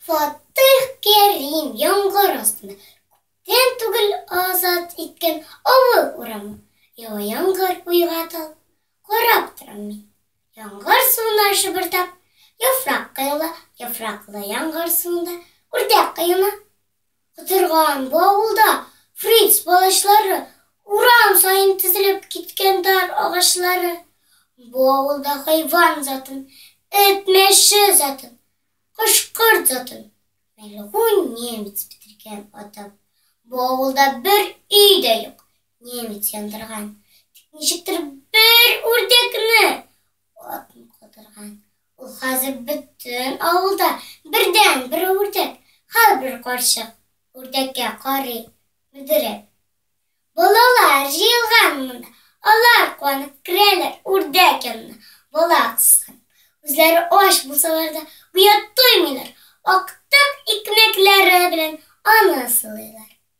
Фатыйх Кәрим яңгыр астында күптән түгел азат иткән авыл урамы. Ява яңгыр, уйга талып, карап торам мин. Яңгыр суына шыбырдап, яфрак коела, яфраклы яңгыр суында үрдәк коена. Котырган бу авылда Фриц балачлары Урам саен тезелеп киткән дар агачлары Бу авылда хайван затын, эт мәче затын, кош-корт затын Мәлгунь немец бетергән атып Бу авылда бер өй дә юк, немец яндырган Тик ничектер бер үрдәкне атмый котырган Ул хәзер бөтен авылда бердәнбер үрдәк, һәрбер карчык үрдәккә карый, мөдерәк. Балалар җыелган монда, алар куанып керәләр үрдәк янына, бала кысып. Үзләре ач булсалар да, гүя туймыйлар, актык икмәкләре белән аны сылыйлар.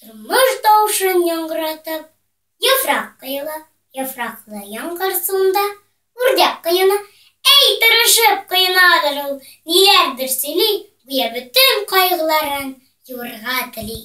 тормыш тавышын яңгыратып, яфрак коела, яфраклы яңгыр суында үрдәк коена, әй, тырышып коенадыр ул, ниләрдер сөйли, гүя бөтен кайгыларын юырга тели.